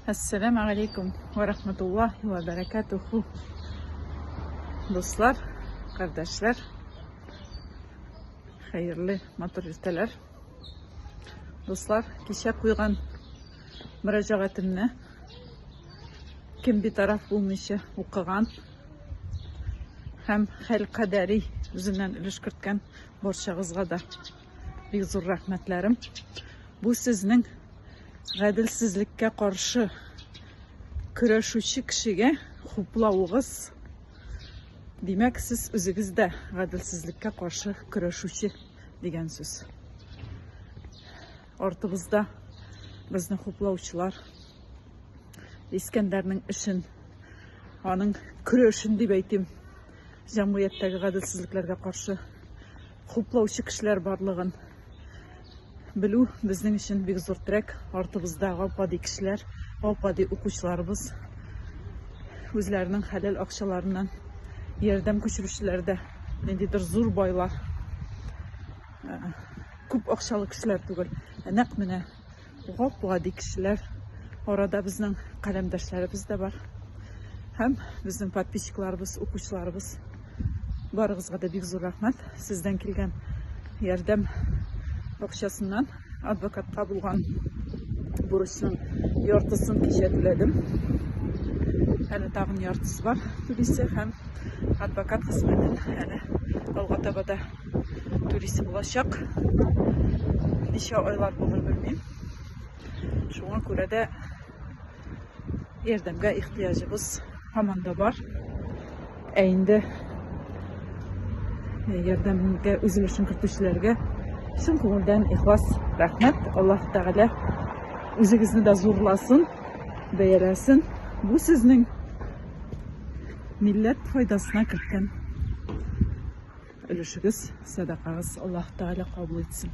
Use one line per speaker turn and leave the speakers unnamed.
Ассалам алейкум ва рахматуллахи ва баракатуху. Дуслар, кардәшләр, хәерле матур иртәләр. Дуслар, кичә куйган мөрәҗәгатемне кем битараф булмыйча укыган һәм хәл кадәри үзеннән өлеш керткән барчагызга да Бик зур рәхмәтләрем. Бу сезнең гаделсезлеккә каршы көрәшүче кешегә хуплавыгыз. Димәк, сез үзегез дә гаделсезлеккә каршы көрәшүче дигән сүз. Артыбызда безне хуплаучылар Искәндәрнең эшен, аның көрәшен дип әйтим, җәмгыятьтәге гаделсезлекләргә каршы хуплаучы кешеләр барлыгын белү безнең өчен бик зур терәк. Артыбызда гапади кешеләр, гапади укучыларыбыз үзләренең хәләл акчаларыннан ярдәм күчерүчеләр дә ниндидер зур байлар, күп акчалы кешеләр түгел, ә нәкъ менә Гапла ди кешеләр. Арада безнең каләмдәшләребез дә бар. Һәм безнең подписчикларыбыз, укучыларыбыз. Барыгызга да бик зур рәхмәт. Сездән килгән ярдәм акчасыннан адвокатка булган бурычның яртысын кичә түләдем. Әле тагын яртысы бар түлисе һәм адвокат хезмәтен әле алга таба да туристы булачак. Ничә айлар булыр белмим. Шуңа күрә дә ярдәмгә ихтыяҗыбыз һаман да бар. Ә инде ярдәмгә үзлешен көтүчеләргә чын күңелдән ихлас рәхмәт. Аллаһ Тәгалә үзегезне дә зурласын, бәяләсен. Бу сезнең милләт файдасына керткән Өлешегез, сәдакагыз Аллаһ Тәгалә кабул итсен.